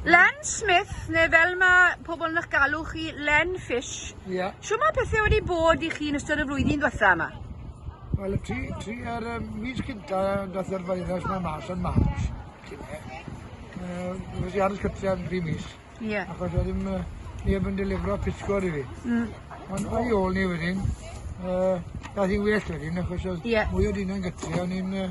Len Smith, neu fel mae pobl yn eich galw chi, Len Fish. Ie. Yeah. Siw mae pethau wedi bod i chi yn ystod y flwyddyn diwetha yma? Wel, y tri, tri ar um, mis cynta, dath yr virus mae mas yn March. Fes i aros cytre am dri mis. Ie. Yeah. Achos oedd ddim uh, neb yn delifro pysgod i fi. Mm. Ond o'i ôl ni wedyn, uh, dath i well wedyn, achos oedd yeah. mwy o dyn yn gytre, o'n i'n uh,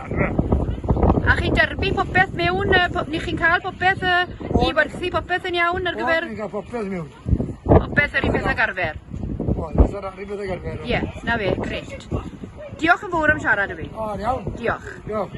A chi'n derbyn popeth mewn yy po- ni chi'n ca'l popeth yy i werthu popeth yn iawn ar gyfer... O ni'n ca'l popeth miwn. Popeth yr un peth ag arfer? O fatha yr un peth ag arfer. Ie, 'na fe, grêt. Diolch yn fowr am siarad â fi. O, yn iawn. Diolch. Diolch.